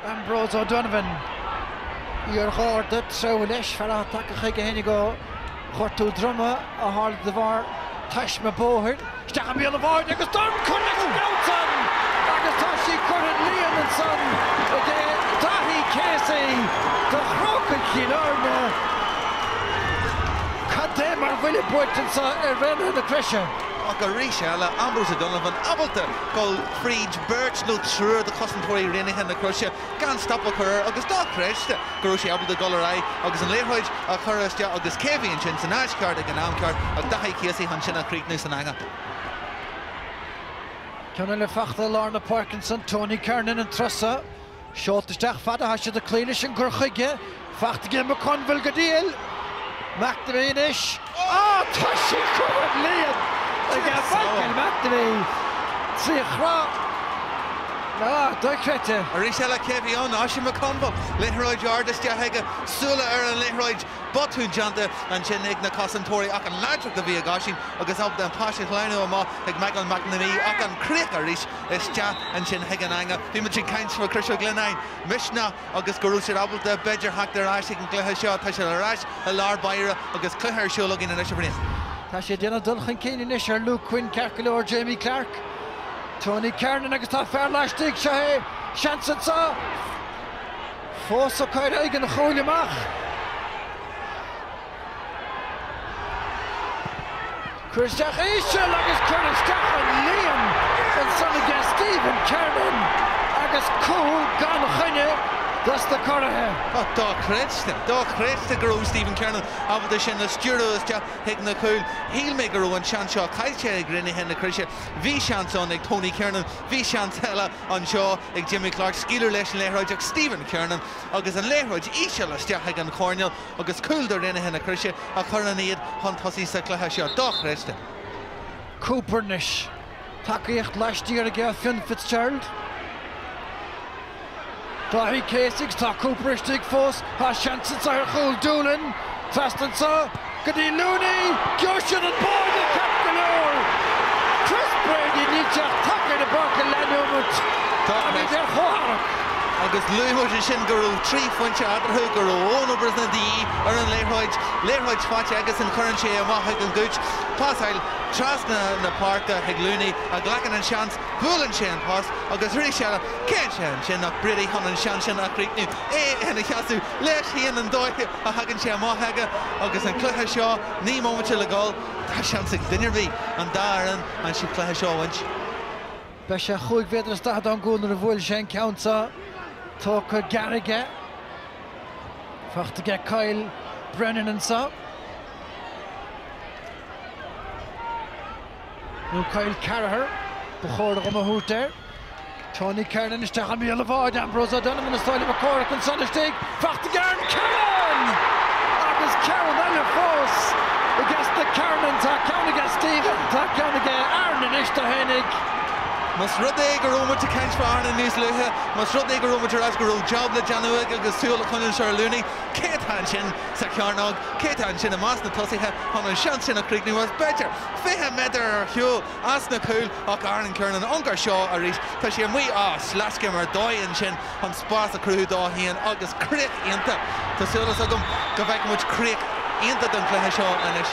Ambrose O'Donovan, iar-Gharda, treabhadh leis, fear atá tagtha chuige féinig ó ghortú droma a tharla de bharr taisme bóthair. Isteach i mbéal an bháire agus dorn curtha leis ansan agus tá sí curtha don líon ansan ag Daithí Casey do Chrócaigh Chill Airne. Cad é mar bhuille buailte anseo ar Raonaithe na Croise. Ach arís eile, Ambrose O'Donovan ábalta dul fríd beirt nó triúr de chosantóirí Raonaithe na Croise gan stop a chur air agus dochreidte go raibh sé ábalta dul ar aghaidh agus an liathróid a chur isteach agus cé a bhí ansin san áit cheart ag an am ceart ach Daithí Casey chun sin a chríochnú san eangach. Ceann eile fachta i lár na páirce ansan, Tony Kernan, an turas so. Seolta isteach fada atá siad ag cloí leis an gcur chuige, fachta aige McConville go diail. McNamee anois. Ah, tá sí curtha don líon aige Michael McNamee! Trí chroch. Ná, dochreidte. Arís eile cé a bhí ann? Oisín McConville. Liathróid ard isteach aige. Súile ar an liathróid. Botún déanta ansin ag na cosantóirí ach an láidreacht a bhí ag Oisín agus ábalta an pas a shleamhnú amach ag Michael McNamee ach an chríoch arís. isteach ansin chuig an eangach. Bhí muid ag caint faoi Chrois Mhic Lionnáin, misneach, agus go raibh siad ábalta b'fhéidir theacht ar ais ag an gcluiche seo. Tá siad ar ais i lár báire agus cluiche ar siúl againn anois, a Bhriain. Tá siad ag déanamh dul chun cinn anois ar Luke Quinn, ceart go leor, Jamie Clarke, Tony Kernan agus tá fear laistigh, seo é, seans anseo, fós os comhair an chúil amach. Curtha isteach íseal agus curtha isteach don líon ansan aige Stephen Kernan agus cúl gan choinne dos na Curaithe. Dochreidte, dochreidte go raibh Stephen Kernan ábalta sin a stiúradh isteach chuig na cúil. Shíl mé go raibh an seans seo caillte ag Raonaithe na Croise. Bhí seans ann ag Tony Kernan, bhí seans eile anseo ag Jamie Clarke scaoileadh leis an liathróid ach Stephen Kernan agus an liathróid íseal isteach chuig an choirnéal. agus cúl do Raonaithe na Croise a chuireann iad chun tosaigh sa chluiche seo. Dochreidte. Cooper anois. Tacaíocht laistiar aige ó Fionn Fitzgerald. Dáithí Casey agus tá Cooper istigh fós. Tá seans anseo ar chúl Doolan. Trasna anseo go dtí Looney. Gheobhaidh siad an báide ceart go leor. Chris Brady níl sé ach tagtha ar an bpáirc le neomat. Táimid ar chomhtharrac. agus luaigh muid ansin go raibh trí phointe eatarthu, go raibh Eoin Brosnan de dhíth ar an liathróid, liathróid faighte agus an chuireann sé amach ag an Gooch, pasáil trasna na páirce chuig Looney, a ghlacann an seans, buaileann sé an post agus arís eile, cé atá ansin ach Brady chun an seans sin a chríochnú, é ina sheasamh leis féin an dóigh a thagann sé amach aige agus an cluiche seo naoi mbomaite le dhul, tá seans ag duine ar bith, an dá fhoireann, an cluiche seo a bhaint. Beidh sé chúig mhéadar is daichead ón gcúl nuair a bhuailfidh sé an ceann seo. Tógtha gearr aige. Fachta ag Kyle Brennan anseo. Nó Kyle Carragher, ba chóir dhom a thabhairt air. Tony Kernan isteach i mbéal an bháide, Ambrose O'Donovan is Tadhg Mac Cárthaigh ansan istigh. Fachta ag Aaron Kernan! Agus ceann eile fós i gcás na Kernans. Tá ceann ag Stephen, tá ceann ag Aaron anois, do tháinig. Más rud é go raibh muid ag caint fá Aaron níos luaithe, más rud é go raibh muid ag rá go raibh jab le déanamh aige agus súil a choinneáil ar Looney, cé atá ansin sa chearnóg, cé atá ansin i measc na tosaithe chun an seans sin a chríochnú as, b'fhéidir, 20 méadar ar shiúl ón chúl ach Aaron Kernan an fear seo arís, tá sé amuigh ar sleas go mór i ndóigh ansin. chun spás a chruthú dó féin agus críoch iontach. Tá súil is agam go bhfeicfidh muid críoch iontach don chluiche seo anois.